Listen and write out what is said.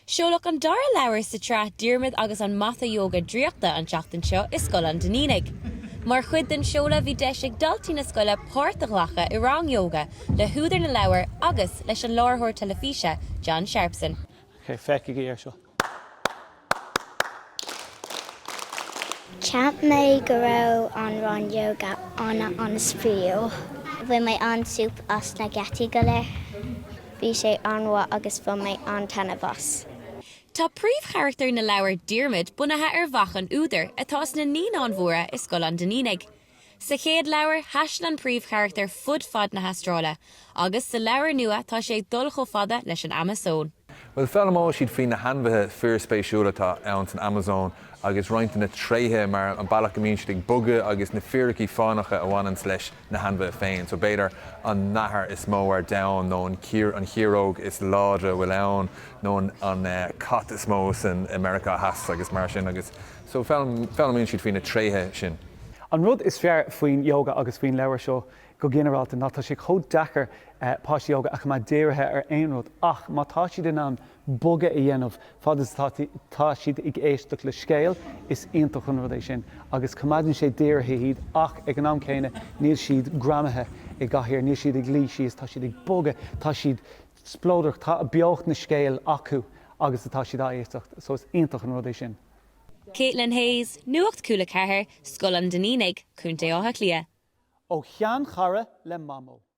Seoladh an dara leabhar sa tsraith Diarmaid agus an Mata Yoga Draíochta an tseachtain seo i Scoil an Duinnínigh. Mar chuid den seoladh bhí deis ag daltaí na scoile páirt a ghlacadh i rang Yoga le húdar na leabhar agus leis an láithreoir teilifíse John Sharpson. Feicigí é seo! Cheap mé go raibh an rang yoga an-spraíúil. Bhain mé an-súp as na gníomhaíochtaí go léir. Bhí sé an-mhaith agus bhain mé an-taitneamh as. Tá príomhcharachtar na leabhar, Diarmaid, bunaithe ar mhac an údair, atá sna Naíonáin Mhóra i Scoil an Duinnínigh. Sa chéad leabhar, thaistil an príomhcharachtar fud fad na hAstráile, agus sa leabhar nua tá sé ag dul chomh fada leis an Amasóin. Bhuel, foghlaimeoidh siad faoi na hainmhithe fíorspéisiúla atá ann san Amasóin, agus roinnt de na tréithe, mar an bealach go mbíonn siad ag bogadh agus na fíricí fánacha a bhaineanns leis na hainmhithe féin. So, b'fhéidir an nathair is mó ar domhan, nó an chiaróg is láidre a bhfuil ann, nó an cat is mó san Meiriceá Theas agus mar sin. So foghlaimíonn siad faoi na tréithe sin. An rud is fearr faoin Yoga agus faoin leabhar seo go ginearálta ná tá sé chomh deacair páistí óga a choimeád dírithe ar aon rud ach má tá siad in ann bogadh a dhéanamh fad is atá siad ag éisteacht le scéal, is iontach an rud é sin agus coimeádann sé dírithe iad ach ag an am céanna níl siad greamaithe i gcathaoir, níl siad ag luí síos, tá siad ag bogadh, tá siad spleodrach, tá beocht na scéal acu agus atá siad ag éisteacht so is iontach an rud é sin. Caitlin Hayes, Nuacht Cúla 4, Scoil an Duinnínigh, Co. Átha Cliath. Ó sheanchara le Mamó.